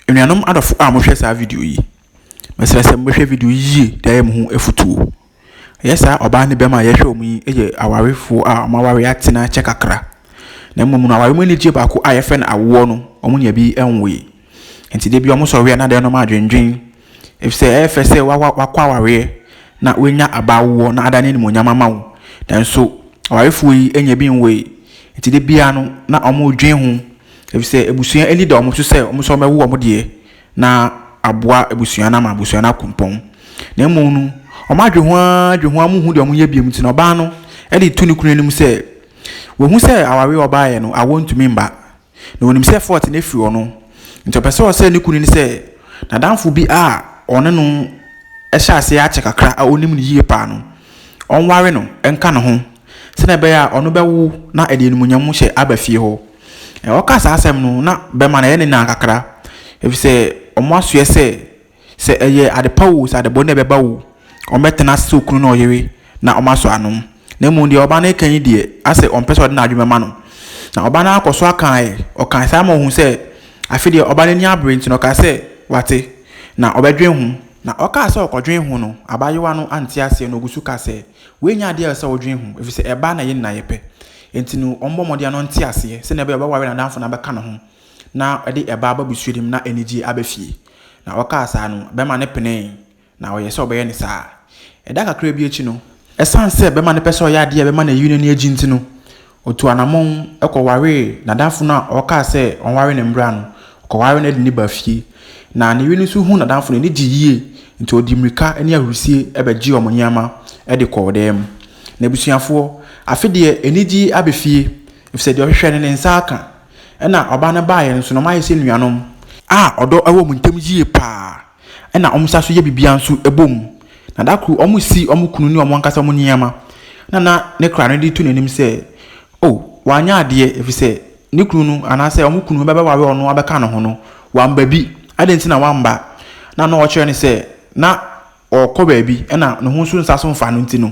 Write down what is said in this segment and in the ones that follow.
Anuanom adɔfo a mohwɛ saa video yi, mesrɛ sɛ mohwɛ video yi yie de ayɛ mo ho afutuo. Ɛyɛ saa ɔbaa ne bɛrima a yɛhwɛ wɔn yi yɛ awarefoɔ a wɔn aware atena kyɛ kakra. Na mmom no aware mu anigyeɛ baako a yɛfrɛ no awoɔ no, wɔn nua bi nwoe. Nti da bi wɔsɔre a na adɛn na wɔn adwendwen Efisɛ ɛyɛ fɛ sɛ woakɔ awareɛ na woanya aba awoɔ na adane animuonyam ama wo. Nanso awarefoɔ yi nya bi nwoe, enti da biara no na wɔredwen ho, efisɛ abusua ani da wɔn so sɛ wɔn nso wɔbɛwo wɔn deɛ na aboa abusua no ama abusua no akɔ mpɔn. Na mmom no, wɔadwe ho ara dwe ho ara wɔnhu deɛ wɔnyɛ bio nti no, ɔbaa no de reto ne kunu anim sɛ wahu sɛ awareɛ a ɔbaeɛ no, awoɔ ntumi mma. na onim sɛ Fort no afiri hɔ no, nti ɔpɛ sɛ ɔsɛe ne kunu no sɛ n'adamfo bi a ɔne no hyɛ aseɛ akyɛ kakra a ɔnim no yie paa no, ɔnware no nka ne ho sɛdeɛ ɛbɛyɛ a ɔno bɛwo na ɛde animuonyam hyɛ aba fie hɔ. Ɔka saa asɛm no, na bɛma no yɛ ne nan kakra, ɛfiri sɛ wɔasoɛ sɛ Sɛ ɛyɛ adepa oo, sɛ adebɔne na ɛbɛba oo, wɔbɛtena ase sɛ okunu ne ɔyere na wɔasɔ ano. Na mmom deɛ ɔbaa no reka yi deɛ, asɛ ɔmpɛ sɛ ɔde n'adwene bɛma no. Na ɔbaa no ara kɔ so aka ɛ, ɔkaa saa ma ɔhuu sɛ afe deɛ ɔbaa no ani abere nti no, ɔkaa sɛ wate, na ɔbɛdwene ho. Na ɔkaa sɛ ɔkɔdwene ho no, abaayewa no ante aseɛ na ɔgu so ka sɛ, wei nyɛ adeɛ a ɛsɛ sɛ wodwene ho, ɛfiri sɛ ɛbaa na yɛn nyinaa yɛpɛ. Enti no, wɔmmɔ mmɔden na ɔnte aseɛ, sɛdeɛ ɛbɛyɛ a ɔbɛware n'adamfo na abɛka ne ho. na ɔde ɛba aba busua no mu na anigyeɛ aba fie. Na ɔkaa saa no, bɛma no penee, na ɔyɛɛ sɛ ɔbɛyɛ no saa. Ɛda kakra bi akyi no, ɛsiane sɛ bɛma no pɛ sɛ ɔyɛ adeɛ a ɛbɛma n'ayiri no ani agye nti no, ɔtuu anammɔn kɔwaree n'adamfo no a ɔkaa sɛ ɔnware no mmra no. Ɔkɔwaree no de no baa fie. Na ne yere no nso hunuu n'adamfo no, n'ani gyee yie, enti ɔde mmirika ne ahurisie bɛgyee wɔn nneɛma de kɔɔ dan mu. N'abusuafoɔ, afe deɛ anigyeɛ aba fie, ɛfiri sɛ deɛ ɔhwehwɛ no, ne nsa aka. Ɛna ɔbaa no baeɛ no nso na wɔayɛ sɛ nuanom a ɔdɔ wɔ wɔn ntam yie pa ara. Ɛna wɔsan nso yɛ biribiara nso bɔ mu. Na da koro wɔresi wɔn kunu ne wɔn ankasa wɔn nneɛma. Ɛna na ne kra no de to n'anim sɛ, o, wanyɛ adeɛ ɛfiri sɛ ne kunu no anaasɛ wɔn kunu bɛbɛware ɔno abɛka ne ho no, wamma bi. Adɛn nti na wamma? Na na ɔrekyerɛ no sɛ na. ɔkɔ baabi na ne ho nso nsa so mfa no nti no,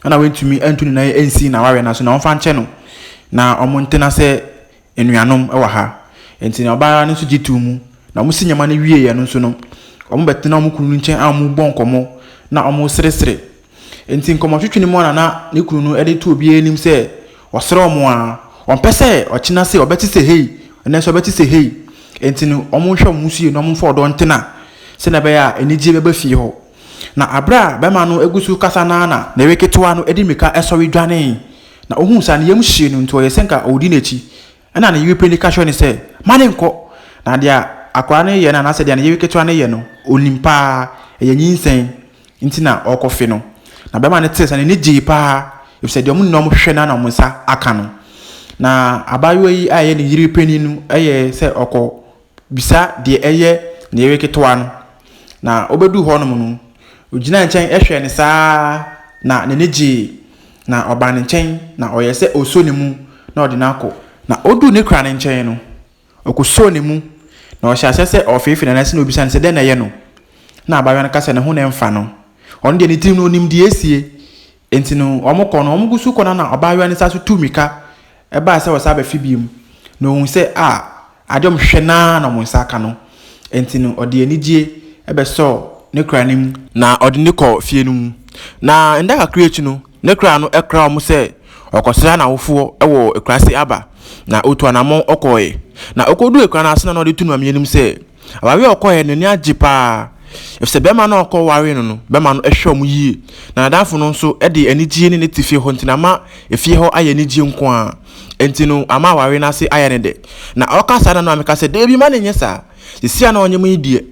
na wantumi antu ne nan ansi n'awareɛ no ase na ɔmfa nkyɛ no na wɔntena sɛ anuanom wɔ ha. Enti na ɔbaa no nso gye too mu. Na wɔsi nneɛma no wieeɛ no nso no, wɔbɛtena wɔn kunu no nkyɛn a wɔrebɔ nkɔmmɔ na wɔreseresere. Enti nkɔmmɔtwetwe no mu ara na ne kunu no de to obiara anim sɛ Wɔsrɛ wɔn a, wɔmpɛ sɛ ɔkyena se ɔbɛte sɛ hei, ɛnnɛ nso ɔbɛte sɛ hei. Enti no, wɔnhwɛ wɔn ho so yie na wɔmfa ɔdɔ ntena sɛdeɛ ɛbɛyɛ a anigyeɛ bɛba fie hɔ. Na berɛ a barima no gu so rekasa no ara na ne yere ketewa no de mmirika sɔre dwanee, na ɔhuu saa no, ne yam hyee no, enti ɔyɛɛ sɛ anka ɔredi n'akyi. Ɛnna ne yere panyin ka kyerɛɛ no sɛ, Mma no nnkɔ. Na deɛ akwadaa no reyɛ no anaasɛ deɛ ne yere ketewa no reyɛ no, ɔnim paa, ɛyɛ nyinsɛn nti na ɔrekɔfe no. Na barima no tee saa no, n'ani gyee paa, ɛfiri sɛ deɛ wɔn nyinaa wɔhwehwɛ no ara na wɔn nsa aka no. Na abaayewa yi a ɛyɛ ne yere panyin no yɛe sɛ ɔkɔ Bisa deɛ ɛyɛ ne yere ketewa no. Na ɔbɛduu hɔnom no, ɔgyinaa nkyɛn hwɛɛ no saa ara na n'ani gyee. Na ɔbaa ne nkyɛn na ɔyɛɛ sɛ ɔresɔ ne mu na ɔde no akɔ. Na ɔduu ne kora no nkyɛn no, ɔkɔsɔɔ ne mu na ɔhyɛɛ aseɛ sɛ ɔrefeefee ne nan ase na ɔrebisa no sɛ dɛn na ɛyɛ no. Na abaayewa no ka sɛ ne ho na ɛmfa no. Ɔno deɛ ne tirim no ɔnim deɛ asie. Enti no, wɔkɔ no, wɔgu so kɔ no ara na ɔbaayewa no san so tuu mmirika bae sɛ ɔresan abɛfe bio, na ohuu sɛ, a ade a wɔhwehwɛ no ara na wɔn nsa aka no. Enti no, ɔde anigye bɛsɔɔ ne kra no mu. Na ɔde no kɔɔ fie no mu. Na nna kakra akyi no, ne kra no kraa wɔn sɛ ɔrekɔsra n'awofo wɔ akuraase aba, na otuu anammɔn kɔe. Na okoduu akuraa no ase no na ɔde too Nuammeanim sɛ, Awareɛ a ɔkɔeɛ no, n'ani agye paa. Ɛfiri sɛ bɛrima no a ɔkɔwaree no no, bɛrima no hwɛ wɔn yie. Na n'adamfo no nso de anigyeɛ ne no te fie hɔ nti, na ama efie hɔ ayɛ anigyeɛ nko ara. Enti no, ama awareɛ no ase ayɛ no dɛ. Na ɔka saa no, na meka sɛ, Dabi, mma no nyɛ saa. Seesei a na ɔnyem yi deɛ,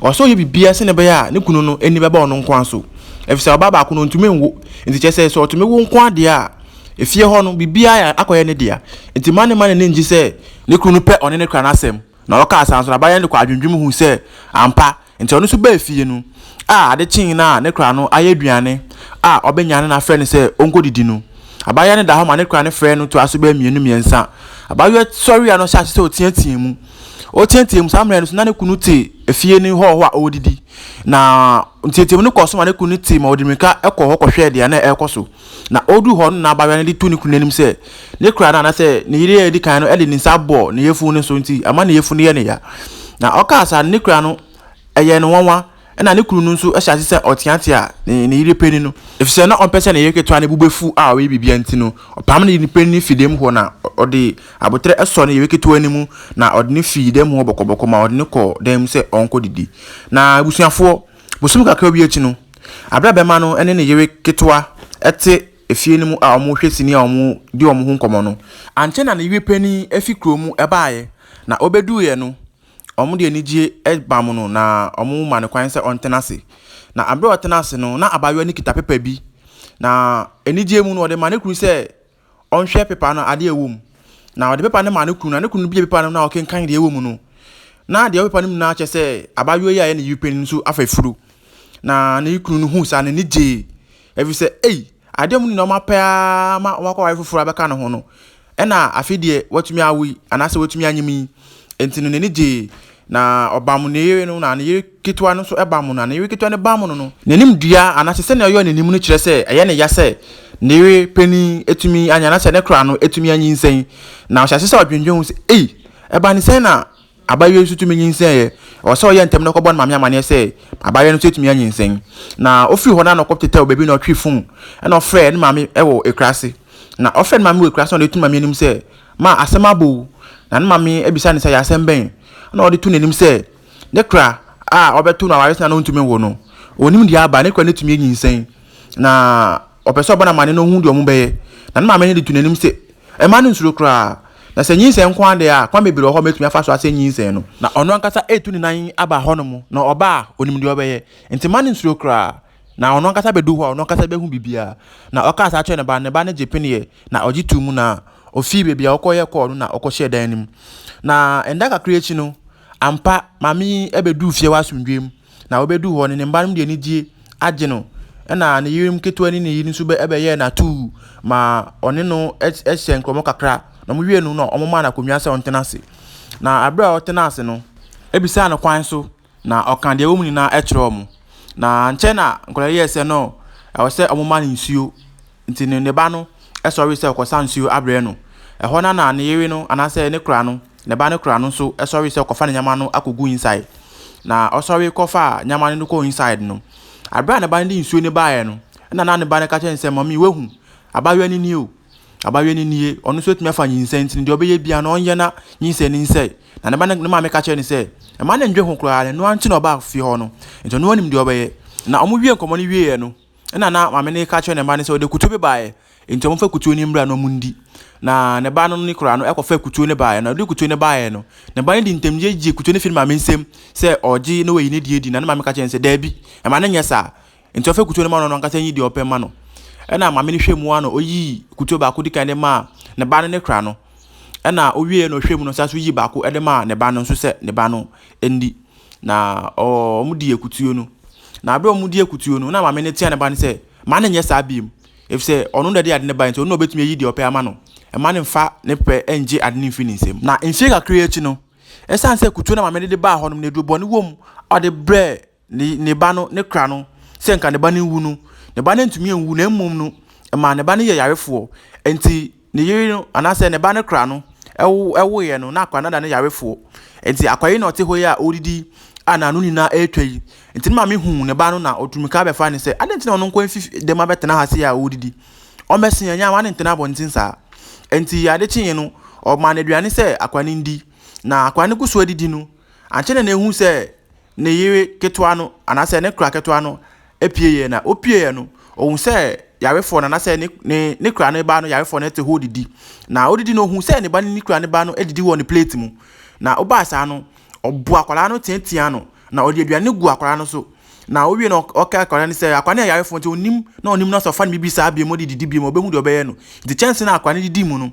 ɔwɔ sɛ ɔyɛ biribiara sɛdeɛ ɛbɛyɛ a ne kunu no ani bɛba ɔno nko ara so. Ɛfiri sɛ ɔbaa baako no, ɔntumi nwo. Enti kyerɛ sɛ, sɛ ɔtumi wo nko ara deɛ a, efie hɔ no, biribiara akɔyɛ ne dea. Enti mma no mma n'ani nngye sɛ ne kunu no pɛ ɔne no ka n'asɛm. Na ɔkaa saa nso no, abayɛn no kɔɔ adwendwem hui sɛ ampa. Enti ɔno nso baa fie no. A Ade kyee no a ne kora no ayɛ aduane a ɔbɛnya no na afrɛ no sɛ ɔnkɔdidi no. Abayɛn no da hɔ ma ne kora no frɛ no toa so bɛyɛ mmienu mmiɛnsa. Abaayewa sɔreeɛ no hyɛɛ ase sɛ ɔteateaa mu. Ɔteateaa mu saa mmerɛ no so na ne kunu te efie no hɔ hɔ a ɔredidi. Na nteateamu no kɔɔ so ma ne kunu no tee ma ɔde mmirika kɔɔ hɔ kɔhwɛɛ deɛ na ɛrekɔ so. Na odu hɔ no na abayewa no de to ne kunu anim sɛ ne kora no anaasɛ ne yere a edi kan no de ne nsa bɔ ne yafunu no so nti ama ne yafunu yɛ ne ya. Na ɔkaa saa no ne kora no ɛyɛ no nwanwa ɛna ne kunu no nso hyɛ ase sɛ ɔteatea ne, ne yere panyin no. Efisɛ na ɔmpɛ sɛ ne yere ketewa no bo befu a ɔyɛ biribiara nti no, ɔpam no de no panyin no fi dɛm hɔ na ɔde aboterɛ sɔɔ ne yere ketewa no mu na ɔde no fii dɛm hɔ bɔkɔbɔkɔ ma ɔde no kɔɔ dan mu sɛ ɔnkɔdidi. Na abusuafoɔ, Bosome kakra bi akyi no, bere a bɛma no ne ne yere ketewa te efie no mu a wɔrehwɛ sini a wɔredi wɔn ho nkɔmmɔ no, ankyɛ na ne yere panyin fi kurom baeɛ, na ɔbɛduruiɛ no, wɔde anigyeɛ bamm no na wɔma no kwan sɛ ɔntena ase. Na bere a ɔtena ase no, na abaayewa no kita pepa bi, na anigyeɛ mu no, ɔde ma ne kunu sɛ ɔnhwɛ pepa no adeɛ a ɛwɔ mu. Na ɔde pepa no maa ne kunu, na ne kunu no bie pepa no na ɔkenkan deɛ ɛwɔ mu no. Na deɛ ɛwɔ pepa no mu nyinaa kyɛ sɛ abaayewa yi a ɛyɛ ne yere panin nso afa funu. Na ne kunu no hu saa n'ani gyee. Ɛfiri sɛ, ei, adeɛ mu no na ɔma pɛ ara ma ɔma kɔware foforɔ abɛka ne ho no. Ɛna afei deɛ watumi awo yi, anaasɛ watumi anyim yi. Enti no n'ani gyee. Na ɔbam ne yere no, na ne yere ketewa no nso bam no, na ne yere ketewa no bam no no. N'anim dua anaasɛ sɛnea ɔyɛ n'anim no kyerɛ sɛ ɛyɛ ne ya sɛ ne yere panin atumi anyin anaasɛ ne kora no atumi anyinsɛn. Na ɔhyɛ ase sɛ ɔdwendwen ho sɛ, Ei, ɛba ne sɛn na abayewa yi nso tumi nyinsɛnee? Ɛwɔ sɛ ɔyɛ ntɛm na ɔkɔbɔ ne maame amanneɛ sɛ abayewa no nso atumi anyinsɛn. Na ɔfiri hɔ no a na ɔkɔtetɛw baabi na ɔtwee fon na ɔfrɛɛ ne maame wɔ akuraase. Na ɔfrɛɛ ne maame wɔ akuraase na ɔde to ne maame anim sɛ Ma asɛm abɔ o! Na ne maame bisa no sɛ, Yɛ asɛm bɛn? Ɛnna ɔde to n'anim sɛ, Ne kora a wɔbɛto no aware sɛnea na ontumi nwo no, onnim deɛ aba, ne kora no atumi anyinsɛn, na ɔpɛ sɛ ɔbɔ no amanneɛ na ohu deɛ wɔbɛyɛ. Na ne maame no de to n'anim sɛ, Mma no nsuro koraa. Na sɛ nyinsɛn nko ara deɛ a, kwan bebree wɔ hɔ a mɛtumi afa so asɛe nyinsɛn no. Na ɔno ankasa retu ne nan aba hɔnom, na ɔba a, onim deɛ ɔbɛyɛ. Enti mma no nsuro koraa. Na ɔno ankasa bɛdu hɔ a, ɔno ankasa bɛhu biribiara. Na ɔkaa saa kyerɛ ne ba, ne ba no gye peneɛ, na ɔgye too mu, na ɔfii baabi a ɔkɔyɛ kɔɔ no, na ɔkɔhyɛɛ dan no mu. Na nda kakra akyi no, ampa, maame yi bɛduu fie wɔ asomdwoeɛ mu, na ɔbɛduu hɔ no, ne mma no de anigyeɛ agye no, ɛna ne yerem ketewa ne ne yere nso bɛyɛɛ no atuu ma ɔne no hyɛ nkɔmmɔ kakra, na wɔwie no na wɔmaa no akonnwa sɛ ɔntena ase. Na berɛ a ɔtenaa ase no, ɛbisaa no kwan so. Na ɔkaa deɛ ɛwɔ mu nyinaa kyerɛɛ wɔn. Na ankyɛ na nkwadaa no yɛɛ sɛ no, ɛwɔ sɛ wɔma no nsuo. Nti no ne ba no sɔree sɛ ɔrekɔsa nsuo abrɛ no. Ɛhɔ no ara na ne yere no anaasɛ ne kora no, ne ba no kora no nso sɔree sɛ ɔrekɔfa ne nneɛma no akɔgu inside. Na ɔsɔre kɔfaa nneɛma no de kɔɔ inside no, berɛ a ne ba no de nsuo no baeɛ no, ɛnna na ne ba no ka kyerɛ no sɛ, Mami, woahu, abaayewa no nie o. Abayewa no nie, ɔno nso atumi afa nyinsɛn nti no, deɛ ɔbɛyɛ biara no ɔnyɛ na nyinsɛn no nsɛe. Na ne ba no ne maame ka kyerɛ no sɛ, mma no ndwe ho koraa, na ɛno ara nti na ɔbaa fie hɔ no. Nti ɔno anim deɛ ɔbɛyɛ. Na wɔwie nkɔmmɔ no wieeɛ no, ɛna na maame no reka kyerɛ ne mma no sɛ ɔde kutuo bi baeɛ, nti wɔmfa kutuo no mmra na wɔndi. Na ne ba no ne koraa no ɛkɔfa kutuo no baeɛ, na ɔde kutuo no baeɛ no, ne ba no de ntɛmgye gyee kutuo no firi ne maame nsam sɛ ɔregye na wayi ne deɛ adi, na ne maame ka kyerɛ no sɛ, daabi, mma no nyɛ saa, Nti ɔfɛ kutuo no ma no ɔno ankasa nyi deɛ ɔpɛ ma no. Ɛna maame no hwɛ mu ara na ɔyii kutuo baako di kan de maa ne ba no ne kra no. Ɛna ɔwieɛ na ɔhwɛ mu no saa so yii baako de maa ne ba no nso sɛ ne ba no ndi. Na wɔn di akutuo no. Na berɛ wɔn di akutuo no na maame no tea ne ba no sɛ ma no nyɛ saa biom. Efisɛ ɔno na ɛde ade no bae nti ɔno na ɔbɛtumi ayi deɛ ɔpɛ ama no. Mma no mfa ne pɛ ngye ade no mfiri ne nsam. Na mfeɛ kakra akyi no, ɛsiane sɛ kutuo no a maame no de baa hɔ no na aduro bɔne wɔ mu a ɔde brɛɛ ne, ne ba no, ne kra no, sɛ nka ne ba no nwu no, ne ba no antumi anwu, na mmom no, ɛmaa ne ba no yɛ yarefoɔ. Enti ne yere no, anaasɛ ne ba no kra no, ɛwo, ɛwoeɛ no, na akwadaa no ada no yarefoɔ. Enti akwadaa yi na ɔte hɔ yi a ɔredidi a n'ano nyinaa ɛretwa yi. Enti ne maame huu ne ba no na ɔtu mmirika bɛfa ne sɛ, adɛn nti na ɔno nko mfi dɛm abɛtena ha sei a ɔredidi? Ɔmmɛse yɛn, nyɛ w'ane ntena abɔnten saa. Enti ade kyeeɛ no, ɔmaa no aduane sɛ akwadaa no ndi, na akwadaa no gu so adidi no, ankyɛ na na ɛhu sɛ, ne yere ketewa no anaasɛ ne kora ketewa no pieeɛ na ɔpieeɛ no, ɔhu sɛ yarefoɔ no anaasɛ ne, ne, ne kora no ba no yarefoɔ no te hɔ didi. Na ɔdidi no ɔhu sɛ ne ba ne ne kora no ba no adidi wɔ ne plate mu. Na ɔbaa saa no, ɔbo akwadaa no teatea no, na ɔde aduane gu akwadaa no so. Na ɔwie no ɔka akwadaa no sɛ akwadaa no yɛ yarefoɔ nti ɔnim na ɔnim no sɛ ɔfa no biribi saa bio mu de didi bio mu ɔbɛhu deɛ ɔbɛyɛ no. Nti kyɛnse no a akwadaa no didi mu no,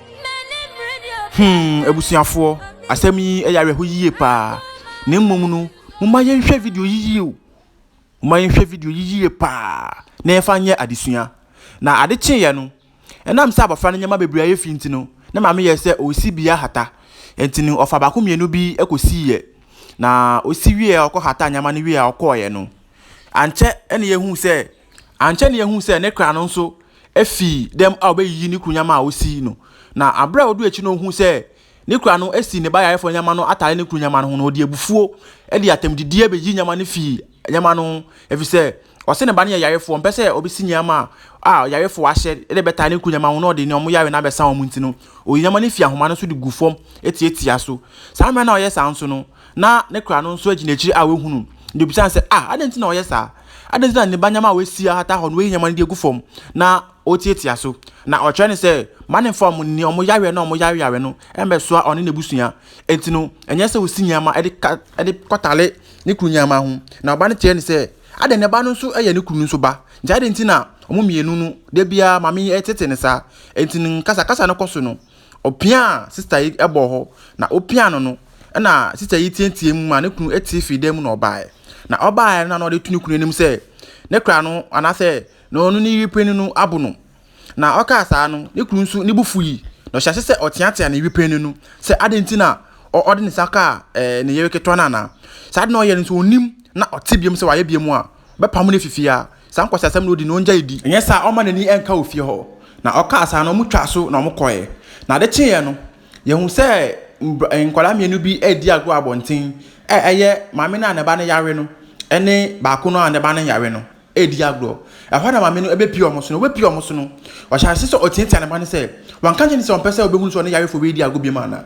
Hmm, abusuafoɔ, asɛm yi yɛ awerɛho yie paa. Na mmom no, momma yɛnhwɛ video yi yie o. Momma yɛnhwɛ video yi yie paa na yɛfa nyɛ adesua. Na ade kyeeɛ no, ɛnam sɛ abɔfra no nneɛma bebree ayɛ fi nti no, na maame yɛɛ sɛ ɔresi bi ahata. Nti no, ɔfa baako mmienu bi kɔsiiɛ. Na ɔsi wieɛ a ɔkɔhataa nneɛma no wieɛ a ɔkɔeɛ no, ankyɛ na yɛhuu sɛ Ankyɛ na yehuu sɛ ne kra no nso afi dɛm a obeyiyi ne kuru nyama a osi no. Na bere a oduu akyi na ohuu sɛ ne kura no asi ne ba yarefo no nyama no atare ne kuru nyama no ho no, ɔde abufuo de atɛmdidie beyii nyama no fii nyama no ho, efisɛ ɔse ne ba no yɛ yarefoɔ, ɔmpɛ sɛ obesi nyama a ɔyarefo ahyɛ de bɛtare ne kuru nyama ho na ɔde ne wɔn yare no abɛsa wɔn nti no, oyii nyama no fii ahoma no so de guu fam tiatiaa so. Saa mmerɛ no a ɔyɛ saa nso no, na ne kra no nso agyina akyiri a wɔahu no. Na obisa no sɛ, Ah, adɛn nti na ɔyɛ saa? Adɛn nti na ne ba nneɛma a wɔasi ahata hɔ no, wɔayi nneɛma no de agu fam na ɔretiatia so? Na ɔkyerɛ no sɛ, Ma ne mfa wɔn nni, wɔn yareɛ no a wɔyareyare no mmɛsoa ɔne n'abusua. Enti no, ɛnyɛ sɛ ɔsi nneɛma de ka de kɔtare ne kunu nneɛma ho. Na ɔba no teɛɛ no sɛ, Adɛn, ne ba no nso yɛ ne kunu no nso ba? Nti adɛn nti na wɔn mmienu no, da biara maame yi tete no saa? Enti no, nkasakasa no kɔ so no, Ɔpiaa sista yi bɔɔ hɔ, na opiaa no no, ɛnna sista yi teɛteɛɛm maa ne kunu tee fii dan mu na ɔbaeɛ. Na ɔbaeɛ no na ɔde to ne kunu anim sɛ ne kra no anaasɛ na ɔno ne yere panin no abo no. Na ɔkaa saa no, ne kunu nso ne bo fui, na ɔhyɛɛ ase sɛ ɔteatea ne yere panin no sɛ adɛn nti na ɔde ne nsa kaa ɛɛ ne yere ketewa no anaa. Saa ade na ɔyɛ no nso ɔnnim na ɔte biam sɛ wayɛ biam a, wɔbɛpamo no afi fie ara. Saa nkwaseasɛm no odi no, ongyae di. Anyɛ saa a, ɔmma n'ani nka wɔ fie hɔ. Na ɔkaa saa no, wɔtwaa so na wɔkɔe. Na ade kyeeɛ no, yɛhuu sɛ nkwadaa mmienu bi redi agorɔ wɔ abɔnten, a ɛyɛ maame no a ne ba no yare no ne baako no a ne ba no nyare no redi agorɔ. Ɛhɔ na maame no bɛpue wɔn so no, ɔbɛpue wɔn so no, ɔhyɛɛ aseɛ sɛ ɔteatea ne ba no sɛ, Wanka nkyerɛ no sɛ ɔmpɛ sɛ ɔbɛhunu sɛ ɔne yarefoɔ bɛredi agorɔ bio anaa?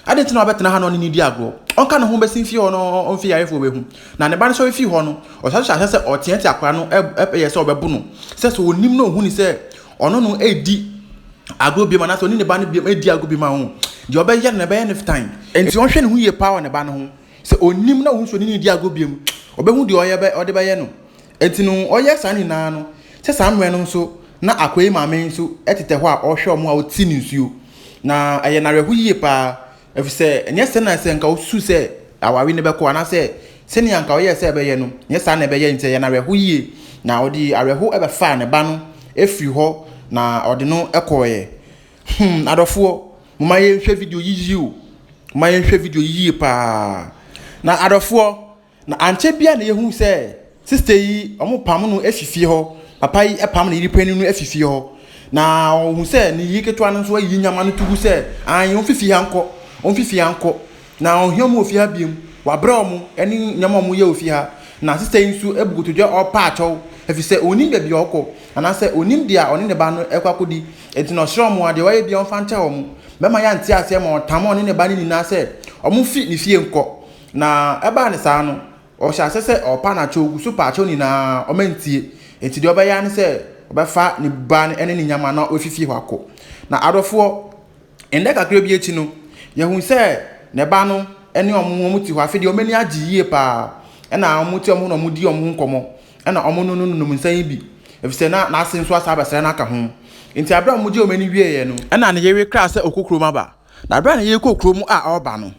Adɛn nti na wabɛtena ha na ɔne no redi agorɔ? Ɔnka ne ho mmɛsi mfie hɔ na ɔmfe yarefoɔ bɛhu. Na ne ba no sɔre fii hɔ no, ɔsan hyɛ aseɛ sɛ ɔreteatea akwadaa no yɛ sɛ ɔbɛbo no, sɛ sɛ ɔnim na ɔhunu sɛ ɔno no redi agorɔ biom anaasɛ ɔne ne ba no biom redi agorɔ biom a, ɔho, deɛ ɔbɛyɛ no na ɛbɛyɛ no tan. Enti ɔnhwɛ ne ho yie paa wɔ ne ba no ho, sɛ ɔnim na ɔhunu sɛ ɔne no redi agorɔ biom, ɔbɛhu deɛ ɔde bɛyɛ no. Enti no ɔyɛ saa nyinaa no sɛ saa mmerɛ no nso na Akoe maame nso tetɛ hɔ a ɔrehwɛ wɔn a wɔte ne nsuo. Na ɛyɛ no awerɛho yie pa ara ɛfiri sɛ ɛnyɛ sɛ na sɛ nka ɔsusu sɛ aware no bɛkɔ anaasɛ sɛdeɛ anka ɔyɛɛ sɛ ɛbɛyɛ no nyɛ saa na ɛbɛyɛ nti ɛyɛ no awerɛho yie. Na ɔde awerɛho bɛfaa ne ba no firii hɔ na ɔde no kɔeɛ. Hmm adɔfoɔ momma yɛnhwɛ video yi yie o, momma yɛnhwɛ video yi yie pa ara. Na adɔfoɔ. Na ankyɛ biara na yɛhuu sɛ sista yi, wɔpam no afi fie hɔ. Papa yi pam ne yere panin no afi fie hɔ. Na ɔhu sɛ ne yere ketewa no nso ayi nyama no to gu sɛ, Ae, wɔmfi fie ha nkɔ, wɔmfi fie ha nkɔ. Na ɔnhia wɔn wɔ fie ha bio. Wɔabrɛ wɔn ne nneɛma a wɔyɛ wɔ fie ha. Na sista yi nso abu kotodwe a ɔrepa akyɛw, ɛfiri sɛ ɔnnim baabi a ɔrekɔ, anaasɛ ɔnnim deɛ ɔne ne ba no rekɔ akɔdi. Enti na ɔsrɛ wɔn a, deɛ wɔayɛ biara wɔmfa nkyɛ wɔn. Bɛrima yi ante aseɛ ma ɔtamoo ɔne ne ba no nyinaa sɛ wɔmfi ne fie nkɔ. Na ɛbaa ne saa no, ɔhyɛ aseɛ sɛ ɔrepa no akyɛw gu so pa akyɛw no nyinaa, ɔma ntie. Enti deɛ ɔbɛyɛ ara ne sɛ ɔbɛfa ne ba no ne ne nyama na wafi fie hɔ akɔ. Na adɔfoɔ, nna kakra bi akyi no, yɛhunu sɛ ne ba no ne wɔn, wɔte hɔ. Afei deɛ wɔn ani agye yie pa ara. Ɛnna wɔte wɔn ho na wɔdi wɔn ho nkɔmmɔ. Ɛnna wɔnonononom nsã yi bi, ɛfiri sɛ na n'ase nso asan abɛsrɛ no aka ho. Enti berɛ a wɔgyee wɔn ani wieeɛ no, ɛnna ne yere kraa sɛ ɔkɔkurom aba. Na bere a na yɛrekɔ kurom a ɔreba no,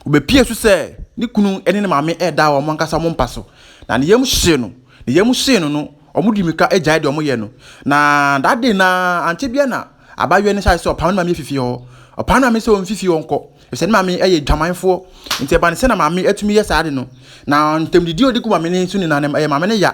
obepiee so sɛ ne kunu ne ne maame reda wɔn ankasa wɔn mpa so, na ne yam hyee no. Ne yam hyee no no, wɔde mmirika gyaee deɛ wɔyɛ no, na that day no ara, ankyɛ biara na abaayewa no hyɛɛ sɛ ɔpam ne maame afi fie hɔ. Ɔpam ne maame sɛ ɔmfi fie hɔ nkɔ, efisɛ ne maame yɛ adwamanfoɔ. Nti ɛbaa no sɛ na maame atumi yɛ saa ade no, na ntamdidi a ɔde gu maame no so nyinaa no, ɛyɛ maame no ya.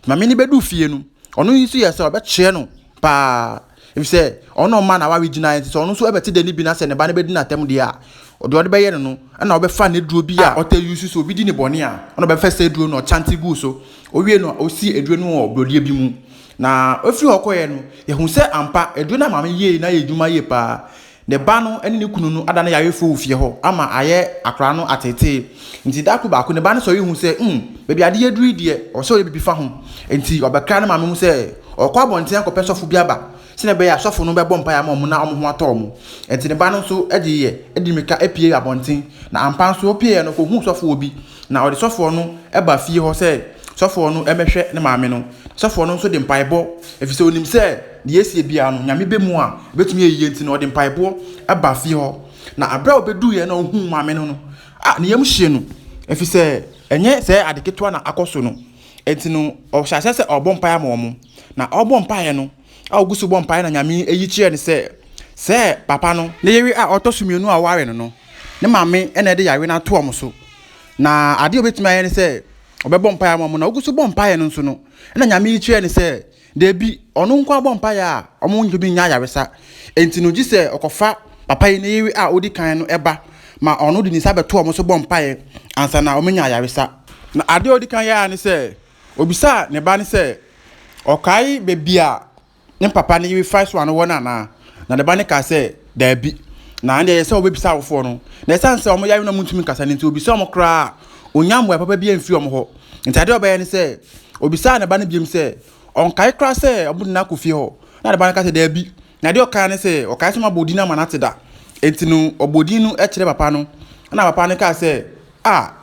Maame no bɛduu fie no, ɔno nso yɛɛ sɛ ɔbɛkyerɛ no paa. Efisɛ ɔno na ɔma n'aware gyinae, enti sɛ ɔno nso bɛte dɛ no bi na sɛ ne ba no bedi n'atɛm de a, deɛ ɔde bɛyɛ no no na ɔbɛfa n'aduro bi a ɔtaa use sɛ obi di no bɔne a, ɔno na ɔbɛfa saa aduro no na ɔkyante gu so. Owiei no, osi aduro no wɔ borɔdeɛ bi mu. Na ofiri hɔ kɔeɛ no, yɛhuu sɛ ampa, aduro no a maame no yɛe no ayɛ adwuma yie paa. Ne ba no ne ne kunu no ada no yarefo wɔ fie hɔ ama ayɛ akwadaa no ateetee. Enti da koro baako, ne ba no sɔre hu sɛ, hmm, baabi ade aduru yi deɛ, ɔsɛ sɛ ɔyɛ biribi fa ho. Enti ɔbɛkra ne maame mu sɛ ɔrekɔ abɔnten akɔpɛ sɔfo bi aba sɛnea ɛbɛyɛ a sɔfo no bɛbɔ mpae ama wɔn na wɔn ho atɔ wɔn. Enti ne ba no nso gyeeɛ de mmirika puee abɔnten, na ampa ara nso ɔpueeɛ no, ɔkɔhuu sɔfoɔ bi Na ɔde sɔfoɔ no ba fie hɔ sɛ sɔfoɔ no mmɛhwɛ ne maame no. Sɔfoɔ no nso de mpaebɔ, ɛfiri sɛ ɔnim sɛ deɛ ɛresie biara no, Nyame bɛ mu a ɛbɛtumi ayɛ yie nti no, ɔde mpaebɔ ba fie hɔ. Na aberɛ a ɔbɛduiɛ na ɔhuu maame no no, a ne yam hyee no, ɛfiri sɛ ɛnyɛ sɛ ade ketewa na akɔ so no. Ɛnti no, ɔhyɛ aseɛ sɛ ɔrebɔ mpaeɛ ama wɔn. Na ɔrebɔ mpaeɛ no, a ogu so bɔ mpae na Nyame yi kyerɛɛ no sɛ sɛ papa no ne yere a ɔtɔ so mmienu a ɔware no no ne maame na ɛde yare no ato wɔn so na adeɛ a obetumi ayɛ ne sɛ ɔbɛbɔ mpae ama wɔn na ogu so bɔ mpae no nso no na Nyame yi kyerɛɛ no sɛ deebi ɔno nko abɔ mpae a wɔn ntumi nya ayaresa enti no gye sɛ ɔkɔfa papa yi ne yere a odi kan no ɛba ma ɔno de ne nsa bɛto wɔn so bɔ mpae ansa na wɔn anya ayaresa na adeɛ a odi kan yɛ ara ne sɛ Obisaa ne ba no sɛ ɔkae baabi a ne papa no yere fa so ano wɔ no anaa, na ne ba no kaa sɛ, Daabi. Na ɛnde ɛyɛ sɛ wɔbɛbisa awofoɔ no. Na ɛsiane sɛ wɔyare na wɔntumi nkasa no nti, ɔbisaa wɔn koraa a, ɔnnya mmuae papa bi amfiri wɔn hɔ. Nti adeɛ a ɔbɛyɛ ne sɛ, ɔbisaa ne ba no biom sɛ ɔnkae koraa sɛ wɔde no akɔ fie hɔ, na ne ba no ka sɛ, Daabi. Na adeɛ a ɔkae ne sɛ, ɔkae sɛ wɔabɔ din ama no ate da. Enti no, ɔbɔɔ din no kyerɛɛ papa no, ɛnna papa no kaa sɛ, Ah!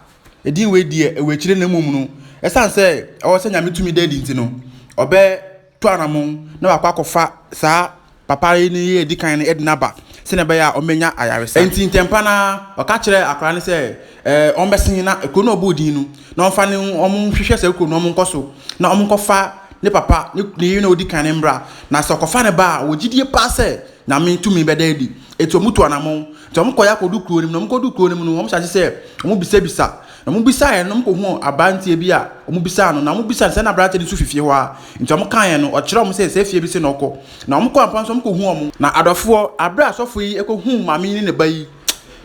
Edin wei deɛ ɛwɔ akyire na mmom no, ɛsiane sɛ ɛwɔ sɛ Nyame tumi da adi nti no, ɔbɛtu anamon na wakɔ akɔfa saa papa yi ne yere a ɛdi kan no de no aba sɛnea ɛbɛyɛ a ɔmmɛnya ayaresa. Enti ntɛmpa no ara, ɔka kyerɛɛ akwadaa no sɛ ɛɛ ɔmmɛsen na kuro no a ɔbɔɔ din no, na ɔmfa ne ho ɔnhwehwɛ saa kuro no na wɔnkɔ so na wɔnkɔfa ne papa, ne yere no a ɔdi kan no mmra. Na sɛ ɔkɔfa no ba a, ɔwɔ gyidie paa sɛ. Nyame tumi bɛda adi. Enti wɔtu anammɔn. Enti wɔkɔeɛ akɔdu kuro no mu. Na wɔkɔdu kuro no mu no, wɔhyɛ ase sɛ wɔbisabisa. Na wɔbisaeɛ no, wɔkɔhuu aberanteɛ bi a wɔbisaa no. Na wɔbisaa no sɛ na aberanteɛ no nso fi fie hɔ ara. Enti wɔkaeɛ no, ɔkyerɛɛ wɔn sɛ saa fie bi se na ɔkɔ. Na wɔkɔɔ ampa nso wɔkɔhuu wɔn. Na adɔfoɔ, aberɛ a asɔfo yi kɔhuu maame yi ne ne ba yi,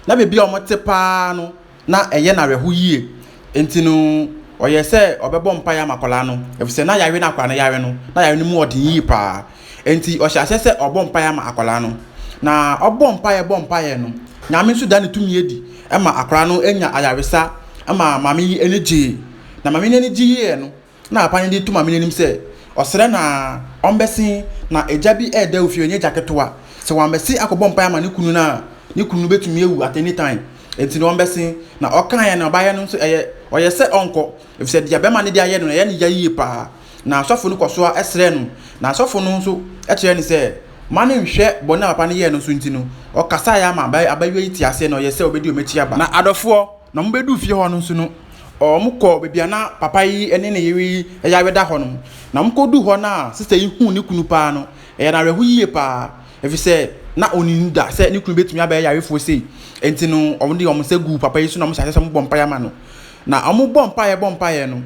na baabi a wɔte paa no, na ɛyɛ no awerɛho yie. Enti no, ɔyɛɛ sɛ ɔbɛbɔ mpaeɛ ama akwadaa no, ɛfiri sɛ na yareɛ no a akwadaa no yare no, na yareɛ no mu yɛ den yie pa ara. Enti ɔhyɛɛ aseɛ sɛ ɔrebɔ mpaeɛ ama akwadaa no. Na ɔbɔ mpaeɛ bɔ mpaeɛ no, Nyame nso daa ne tumi adi ma akwadaa no nyaa ayaresa ma maame yi ani gyee. Na maame no ani gyeeɛ no, na papa no de to maame no anim sɛ ɔsrɛ no ara, ɔmmɛse. Ná agya bi reda awufo, ɛnyɛ agya ketewa. Sɛ wammɛse akɔbɔ mpae ama ne kunu no a, ne kunu no betumi awu at any time. Enti na ɔmmɛse. Na ɔkae a na ɔbaeɛ no nso, ɛyɛ ɔyɛ sɛ ɔnkɔ, efisɛ deɛ barima no de ayɛ no, na ɛyɛ no ya yiye paa. Na asɔfo no kɔ so ara srɛ no, na asɔfo no nso kyerɛɛ no sɛ mma no nnhwɛ bɔne a papa no yɛe no so nti no, ɔkasae ara ma abayewa yi tee aseɛ, na ɔyɛɛ sɛ obedi wɔn akyi aba. Na adɔfoɔ, Na wɔbɛduu fie hɔ no nso no, wɔkɔɔ baabi a na papa yi ne ne yere yi yare da hɔ no. Na wɔkɔduu hɔ no a, sista yi huu ne kunu paa no, ɛyɛɛ no awerɛho yie paa, ɛfiri sɛ na ɔnnim da sɛ ne kunu bɛtumi abɛyɛ yarefoɔ sei. Enti no, wɔde wɔn nsa guu papa yi so na wɔhyɛɛ aseɛ sɛ wɔbɔ mpaeɛ ma no. Na wɔbɔ mpaeɛ bɔ mpaeɛ no,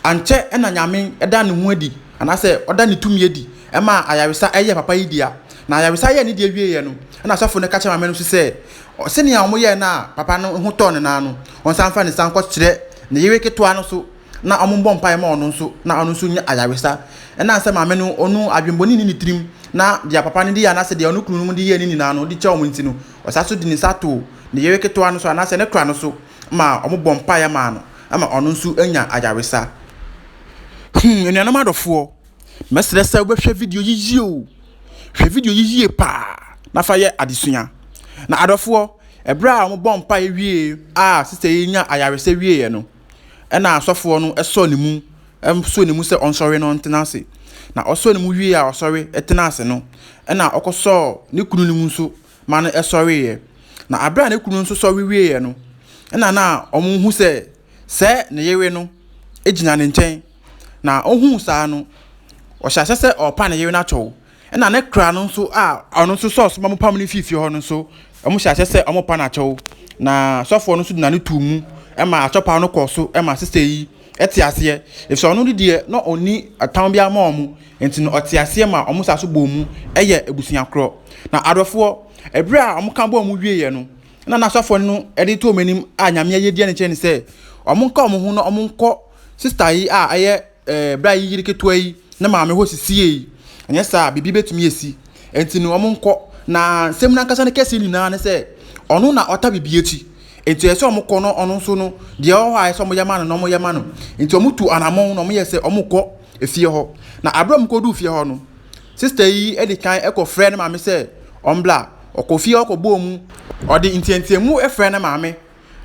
ankyɛ na Nyame da ne ho adi, anaasɛ ɔda ne tumi adi maa ayaresa yɛɛ papa yi dea. Na ayaresa yɛɛ ne dea wieeɛ no, ɛnna asɔfoɔ no ka kyerɛɛ maame no nso sɛ, Sɛnea wɔyɛɛ no a papa no ho tɔɔ no no ara no, wɔsan fa no san kɔkyerɛ ne yere ketewa no so na wɔbɔ mpae ma ɔno nso na ɔno nso nya ayaresa. Ɛnam sɛ maame no onu adwemmɔne nni ne tirim na deɛ papa no de yɛ anaasɛ deɛ ɔno kununom de yɛɛ no nyinaa no, ɔde kyɛ wɔn nti no, ɔsan so de ne nsa too ne yere ketewa no so anaasɛ ne kora no so ma wɔbɔ mpaeɛ maa no ma ɔno nso nya ayaresa. Him, Anuanom adɔfoɔ, Mɛsrɛ sɛ wobɛhwɛ video yi yie o. Hwɛ video yi yie paa na fa yɛ adesua. Na adɔfoɔ, ɛberɛ a wɔbɔ mpaeɛ wie a sista yi nya ayaresa wieeɛ no, ɛna asɔfoɔ no sɔ ne mu, sɔ ne mu sɛ ɔnsɔre na ɔntena ase. Na ɔsɔ ne mu wie a ɔsɔre tena ase no, ɛna ɔkɔsɔɔ ne kunu no mu nso ma no sɔreeɛ. Na aberɛ a ne kunu nso sɔre wieeɛ no, ɛna na wɔhu sɛ sɛ ne yere no gyina ne nkyɛn. Na ohuu saa no, ɔhyɛ aseɛ sɛ ɔrepa ne yere no atɔ. Ɛna ne kra no nso a ɔno nso sɛ ɔsoma mo pam no fii fie hɔ no nso, wɔhyɛ aseɛ sɛ wɔrepa no atɔ. Na sɔfoɔ no nso de n'ano too mu ma atɔpaw no kɔɔ so ma sista yi te aseɛ. Efisɛ ɔno de deɛ, na ɔnni ɔtam biara ma wɔn, enti no ɔte aseɛ ma wɔn saa so bɔɔ mu yɛ abusua korɔ. Na adɔfoɔ, ɛberɛ a wɔka bɔɔ mu wieeɛ no, ɛna na sɔfoɔ no de too wɔn anim a Nyame ayɛdeɛ no kyerɛ ne sɛ, wɔnka wɔn ho na wɔnkɔ Sista yi a ɛyɛ ɛɛ bra yi yere ketewa yi ne maame hɔ sisi yie yi, anyɛ saa a biribi bɛtumi asi. Ɛnti no wɔnkɔ. Na nsɛm no ankasa no kɛseɛ nyinaa ne sɛ, ɔno na ɔta biribi akyi. Ɛnti ɛsɛ sɛ wɔkɔ no ɔno nso no, deɛ ɛwɔ hɔ a ɛsɛ sɛ wɔyɛ ma no no, wɔyɛ ma no. Ɛnti wɔtu anamɔn na wɔyɛ sɛ wɔkɔ efie hɔ. Na aberɛ a wɔkɔduu fie hɔ no, sista yi de kan kɔ frɛɛ ne maame sɛ ɔmbra. Ɔkɔ fie hɔ kɔbɔɔ mu, ɔde nteateamu frɛɛ ne maame.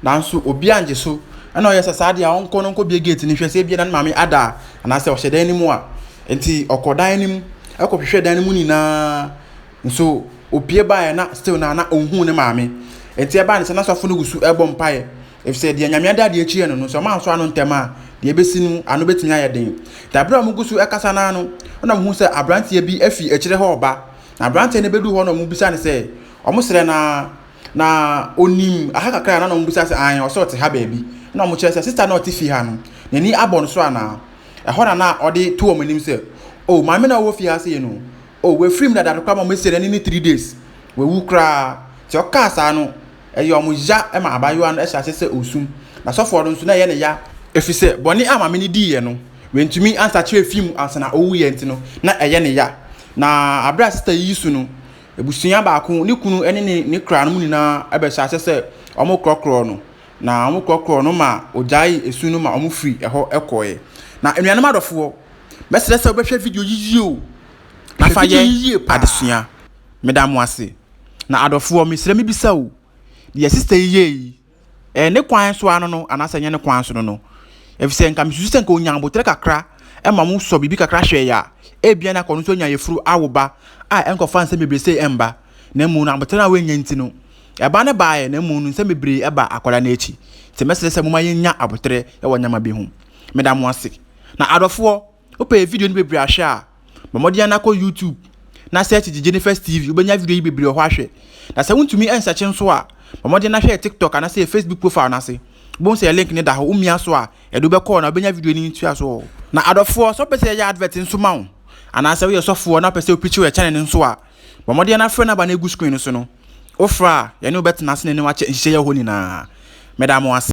Nanso obi angye so. Ɛna ɔyɛ sɛ saa deɛ a ɔnkɔ no nkɔ bie gate no hwɛ sɛ ebia na ne maame ada a anaasɛ ɔhyɛ dan no mu a nti ɔkɔ dan no mu ɛkɔhwehwɛ dan no mu nyinaa nso opie baeɛ na still na na ɔnhu ne maame nti ɛbaa ne sɛ na sɔfo no gu so ɛbɔ mpaeɛ efisɛ deɛ nyame ada adeɛ akyi yɛ no no sɛ ɔma anso ano ntɛm a deɛ ebesi no ano betumi ayɛ den te abere a wɔn gu so ɛkasa naa no ɛna wɔn hu sɛ aberanteɛ bi afi akyire hɔ ɔba na aberanteɛ no bedu hɔ na wɔn bisa no sɛ wɔn srɛ naa. Na onim aha kakra a na na wɔbisa sɛ an ɔsɛ ɔte ha baabi na wɔkyerɛ sɛ sista na ɔte fie ha no n'ani abɔ no so anaa ɛhɔ na na ɔde to wɔn anim sɛ o oh, maame na ɔwɔ fie ha sɛ yɛ no o oh, wafiri mu dada koraa ma wɔasi n'ani ne three days wawu koraa sɛ ɔkaa saa no ɛyɛ wɔn ya ma abaayewa no ɛhyɛ ase sɛ osum na sɔfoɔ no nso na ɛyɛ ne ya ɛfiri sɛ bɔne a maame no diiɛ no wantumi ansakyerɛ fi mu ansa na ɔwuiɛ nti no na ɛyɛ ne ya na abira sista yi su no abusua baako, ne kunu ne ne ne kra no mu nyinaa bɛhyɛ aseɛ sɛ wɔkorɔkorɔ no. Na wɔkorɔkorɔ no ma ɔgyae esu no ma wɔfiri ɛhɔ kɔeɛ. Na anuanom adɔfoɔ, mɛsrɛ sɛ wobɛhwɛ video yi yie o. Na fa yɛ adesua. Meda mo ase. Na adɔfoɔ, mesrɛ mebisa o, deɛ sista yi yɛɛ yi, Ɛyɛ ne kwan so ano no anaasɛ ɛnyɛ ne kwan so no no, efisɛ nka misusu sɛ nka onya abotire kakra ma mo sɔ biribi kakra hwɛ yɛ a, ebia na kɔno nso anya yefuru awo ba a ɛnkɔfa nsɛm bebree sei ɛmba, na mmom no abotire no a wanya nti no, ɛba no baeɛ, na mmom no nsɛm bebree ɛba akwadaa no akyi. Nti mɛsrɛ sɛ momma yɛnnya abotire wɔ nneɛma bi ho. Meda mo ase. Na adɔfoɔ, Wopɛ video no bebree ahwɛ a, bɔ mmɔden na kɔ YouTube na search Gyegyenefest TV. Wobɛnya video yi bebree wɔ hɔ ahwɛ. Na sɛ wontumi nsearch nso a, bɔ mmɔden na hwɛ yɛ TikTok anaasɛ yɛ Facebook profile no ase. Wobɛhu sɛ yɛ link no da hɔ. Womia so a, ɛde wo bɛkɔ hɔ na wobɛnya video no ntoaso wɔ hɔ. Na adɔfoɔ, sɛ wopɛ sɛ yɛyɛ advert nso ma wo, anaasɛ woyɛ sɔfoɔ na wopɛ sɛ woprikyi wɔ yɛ channel no nso a, bɔ mmɔden na frɛ number no a ɛgu screen no so no. Wofrɛ a, yɛne wo bɛtena ase na yɛne wo akyɛ nhyehyɛeɛ hɔ nyinaa. Meda mo ase.